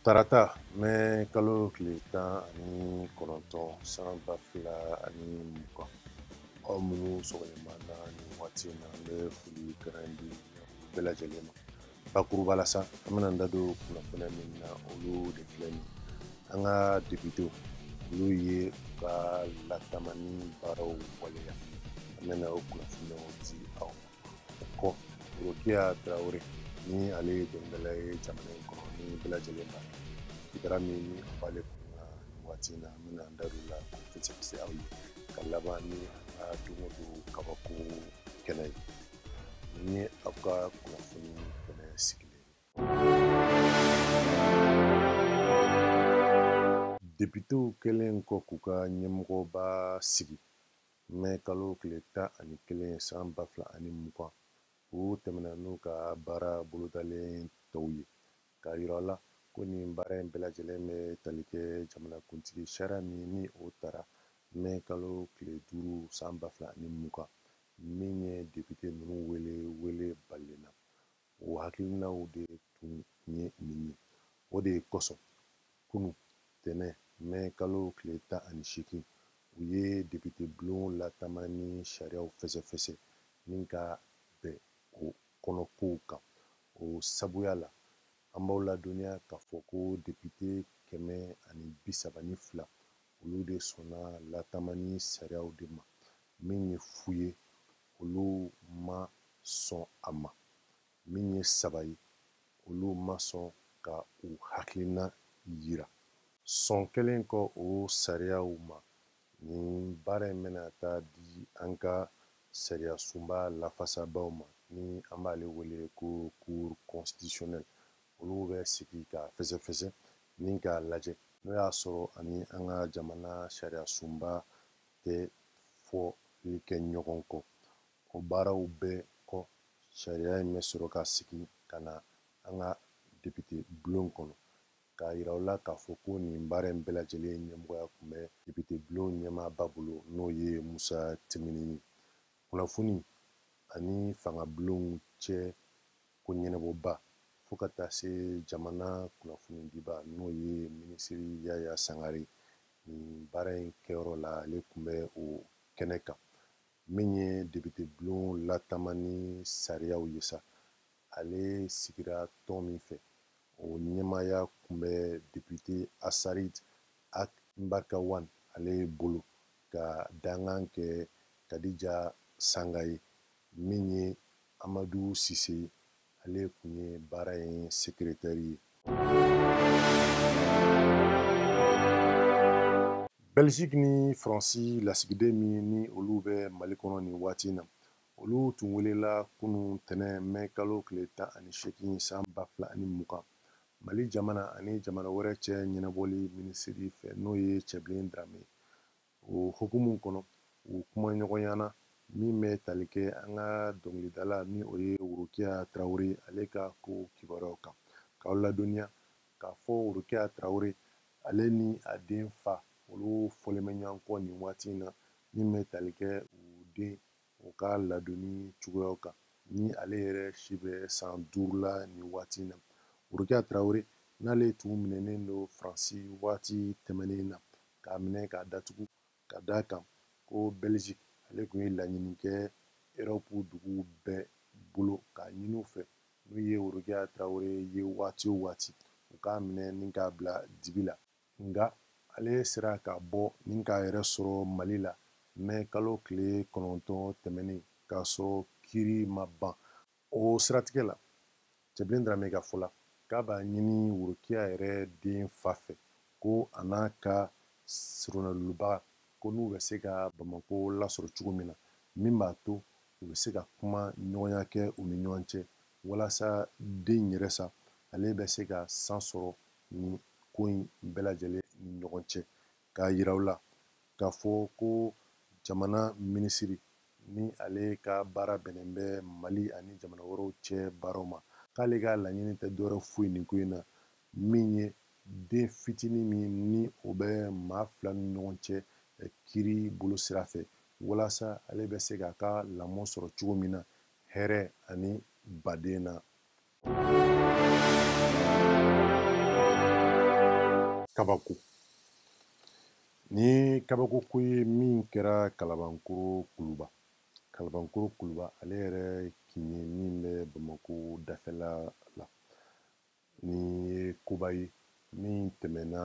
tarata mɛ kalo tile tan ani kɔnɔntɔn san ba fila ani mugan aw minnu sɔgɔlen b'an na nin waati in na an bɛ foli kɛrɛn di bɛɛ lajɛlen ma bakuruba la sa an bɛna an da don kunnafoniya min na olu de filɛ nin an ka depitew olu ye u ka latamani baaraw waleya an bɛna o kunnafoniyaw di aw ma kɔ rokiya tarawele ni ale ye dɔnkilidala ye jamana in kɔnɔ ni bɛɛ lajɛlen b'a dɔn sigida min ni a b'ale kun na nin waati in na an bɛna an da don o la k'o fɛsɛfɛsɛ aw ye ka laban ni an ka don o don kabako kɛnɛ ye nin ye aw ka kunnafoni kɛnɛ sigilen ye depitew kɛlen kɔ k'u ka ɲɛmɔgɔba sigi Mɛ kalo tile tan ani kelen san ba fila ani mugan u tɛmɛna n'u ka baara bolodalen tɔw ye k'a yira aw la ko nin baara in bɛɛ lajɛlen bɛ tali kɛ jamanakuntigi sariya min ni o tara mɛ kalo tile duuru san ba fila ani mugan min ye depite ninnu wele wele balalen na o hakilinaw de tun ye nin ye o de ye kosɔn kunun tɛnɛn mɛ kalo tile tan ani seegin u ye depite bulon latamani sariyaw fɛsɛfɛsɛ ni ka bɛn o kɔnɔkow kan o sabuya la an b'aw ladɔnniya k'a fɔ ko depite kɛmɛ ani bi saba ni fila olu de sɔnna latamani sariyaw de ma min ye fu ye olu ma sɔn a ma min ye saba ye olu ma sɔn ka u hakilina yira sɔn kɛlen kɔ o sariyaw ma nin baara in bɛna taa di an ka sariya sunba lafasabaw ma ni an b'ale wele ko cour constitutionnelle olu bɛ sigi k'a fɛsɛfɛsɛ ni k'a lajɛ n'u y'a sɔrɔ a ni an ka jamana sariya sunba tɛ fɔli kɛ ɲɔgɔn kɔ o baaraw bɛɛ kɔ sariya in bɛ sɔrɔ ka segin ka na an ka depite bulon kɔnɔ k'a yira aw la k'a fɔ ko nin baara in bɛɛ lajɛlen ɲɛmɔgɔya tun bɛ depite bulon ɲɛmaaba bolo n'o ye musa timbine ye kunnafoni ani fanga bulonw cɛ ko ɲɛnabɔba fo ka taa se jamana kunnafonidiba n'o ye minisiri yaya sangare nin baara in kɛyɔrɔ la ale tun bɛ o kɛnɛ kan min ye depitebulon latamani sariyaw ye sa ale sigira tɔn min fɛ o ɲɛmaaya tun bɛ depite asarid ag mbarikawan ale bolo k'a dankan kɛ kadija sanga ye min ye amadu sise ale tun ye baara in sekeretɛri ye bɛliziki ni faransi lasigiden min ni olu bɛ mali kɔnɔ nin waati na olu tun welela kunu tɛnɛn mɛ kalo tile tan ani seegin san ba fila ani mugan mali jamana ani jamana wɛrɛ cɛ ɲɛnabɔli minisiri fɛ n'o ye cɛbilen darame o hokumu kɔnɔ u kumaɲɔgɔnyana min bɛ tali kɛ an ka dɔnkilidala ni o ye worokiya tarawele ale ka ko kibaruyaw kan k'aw ladɔnniya k'a fɔ worokiya tarawele ale ni a den fa olu fɔlen bɛ ɲɔgɔn kɔ nin waati in na min bɛ tali kɛ u den u ka ladonni cogoyaw kan ni ale yɛrɛ si bɛ san duuru la nin waati in na worokiya tarawele n'ale tun minɛnen don faransi waati tɛmɛnen na k'a minɛ k'a datugu ka d'a kan ko belgique ale tun ye laɲini kɛ erɔpu duguw bɛɛ bolo k'a ɲini u fɛ n'u ye worokiya tarawele ye waati o waati u k'a minɛ ni k'a bila dibi la nka ale sera ka bɔ ni k'a yɛrɛ sɔrɔ mali la mɛ kalo tile kɔnɔntɔn tɛmɛnen k'a sɔrɔ kiri ma ban o siratigɛ la cɛbilen dramɛ ka fɔ la k'a b'a ɲini worokiya yɛrɛ den fa fɛ ko a n'a ka soronadonnibaga ko n'u bɛ se ka bamako lasɔrɔ cogo min na min b'a to u bɛ se ka kumaɲɔgɔnya kɛ u ni ɲɔgɔn cɛ walasa den yɛrɛ sa ale bɛ se ka san sɔrɔ nin ko in bɛɛ lajɛlen ni ɲɔgɔn cɛ k'a yira u la k'a fɔ ko jamana minisiri ni ale ka baara bɛnnen bɛ mali ani jamana wɛrɛw cɛ baaraw ma k'ale ka laɲini tɛ dɔwɛrɛ foyi nin ko in na min ye den fitinin min ni o bɛ maa fila ni ɲɔgɔn cɛ eh, kiri bolo sira fɛ walasa ale bɛ se k'a ka lamɔ sɔrɔ cogo min na hɛrɛ ani baden na kabako nin kabako ko ye min kɛra kalabankoro kuluba kalabankoro kuluba ale yɛrɛ kin ye min bɛ bamako dafɛla la nin ye koba ye min tɛmɛna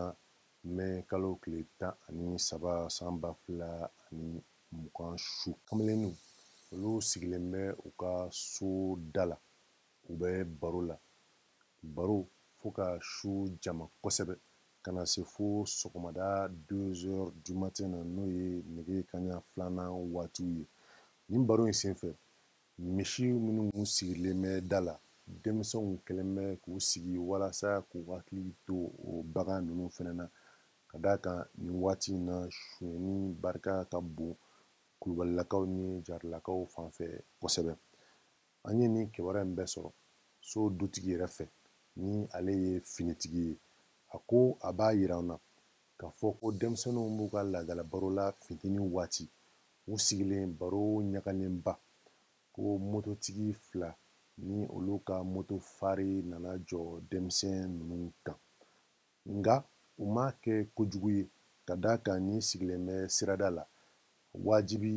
mɛ kalo tile tan ani saba san ba fila ani mugan su kamalenninw olu sigilen bɛ u ka so da la u bɛ baro la baro fo ka su jama kosɛbɛ ka na se fo sɔgɔmada 2h du matin na n'o ye nɛgɛ kaɲa filanan waatiw ye nin baro in senfɛ misi minnu sigilen bɛ da la denmisɛnw kɛlen bɛ k'u sigi walasa k'u hakili to o bagan ninnu fɛnɛ na ka d'a kan nin waati in na sonyɛni barika ka bon kulubalilakaw ni jarilakaw fanfɛ kosɛbɛ an ye nin kibaruya in bɛɛ sɔrɔ so dutigi yɛrɛ fɛ ni ale ye finitigi ye a ko a b'a yira an na k'a fɔ ko denmisɛnninw b'u ka laadala baro la finteni waati u sigilen baro ɲagalenba ko mototigi fila ni olu ka moto fari nana jɔ denmisɛn ninnu kan Nka u m'a kɛ kojugu ye ka d'a kan n'i sigilen bɛ sirada la wajibi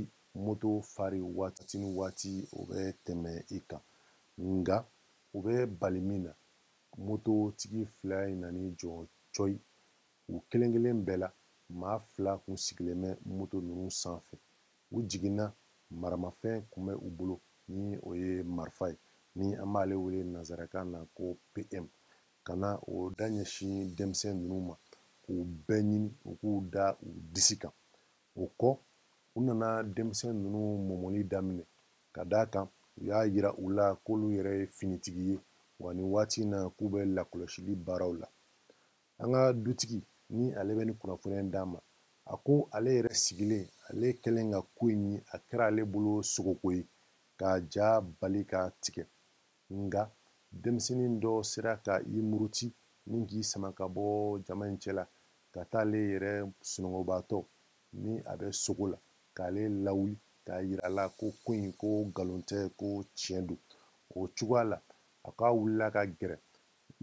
moto fari waati ni waati o bɛ tɛmɛ i kan nka u bɛ bali min na mototigi fila in nan'i jɔ cɔyi u kelen kelen bɛɛ la maa fila kun sigilen bɛ moto ninnu sanfɛ u jiginna maramafɛn kun bɛ u bolo ni o ye marifa ye ni an b'ale wele nanzarakan na ko pm ka na o da ɲɛsin denmisɛn ninnu ma k'u bɛɛ ɲini u k'u da u disi kan o kɔ u nana denmisɛn ninnu mɔmɔli daminɛ ka d'a kan u y'a yira u la k'olu yɛrɛ ye finitigi ye wa nin waati in na k'u bɛ lakɔlɔsili baaraw la an ka dutigi ni ale bɛ nin kunnafoniya in d'an ma a ko ale yɛrɛ sigilen ale kɛlen ka ko in ye a kɛra ale bolo sogoko ye k'a ja bali k'a tigɛ nka denmisɛnnin dɔ sera ka i muruti ni k'i sama ka bɔ jama in cɛla ka taa ale yɛrɛ sunɔgɔbaatɔ ni a bɛ sogo la k'ale lawuli k'a yira a la ko ko in ko nkalon tɛ ko tiɲɛ don o cogoya la a k'a wulila ka gɛrɛ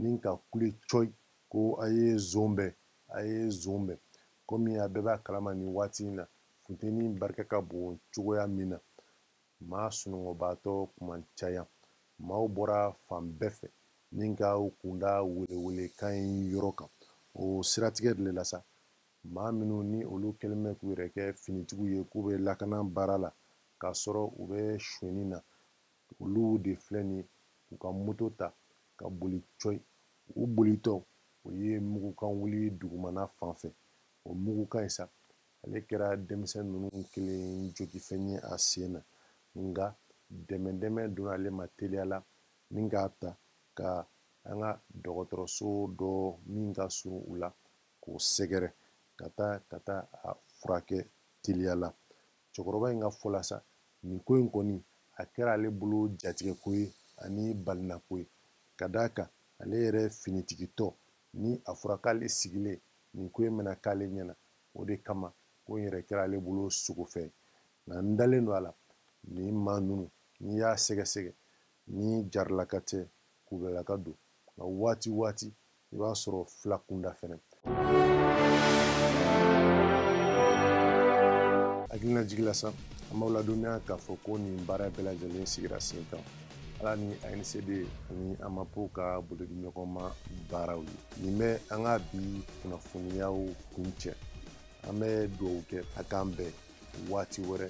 ni ka kule cɔyi ko a ye zon bɛn a ye zon bɛn komi a bɛɛ b'a kalama nin waati in na funteni barika ka bon cogoya min na maa sunɔgɔbaatɔ kun ma caya maaw bɔra fan bɛɛ fɛ ni ka u kunda welewelekan in yɔrɔ kan o siratigɛ de la sa maa minnu ni olu kɛlen bɛ k'u yɛrɛ kɛ finitigiw ye k'u bɛ lakana baara la k'a sɔrɔ u bɛ sonyɛni na olu de filɛ nin u ka moto ta ka boli cɔyi u bolitɔ u ye mugukan wuli dugumana fan fɛ o mugukan in sa ale kɛra denmisɛn ninnu kelen jogifɛn ye a sen na nka dɛmɛ dɛmɛ donna ale ma teliya la ni k'a ta ka an ka dɔgɔtɔrɔso dɔ min ka surun u la k'o sɛgɛrɛ ka taa ka taa a furakɛ teliya la cɛkɔrɔba in ka fɔ la sa nin ko in kɔni a kɛra ale bolo jatigɛko ye ani balinako ye ka d'a kan ale yɛrɛ finitigitɔ ni a fɔra k'ale sigilen nin ko in bɛna k'ale ɲɛna o de kama ko in yɛrɛ kɛra ale bolo sogo fɛ nka n dalen don a la nin maa ninnu n'i y'a sɛgɛsɛgɛ ni jarilaka tɛ kulubalilaka don nka waati waati i b'a sɔrɔ fila kunda fɛnɛ hakilinajigin la sa an b'aw ladɔnniya k'a fɔ ko nin baara bɛɛ lajɛlen sigira sen kan ala ni ancd ani amapo ka bolodiɲɔgɔnma baaraw ye nin bɛ an ka bi kunnafoniyaw kuncɛ an bɛ dugawu kɛ a k'an bɛn waati wɛrɛ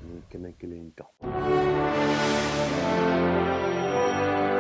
nin kɛnɛ kelen in kan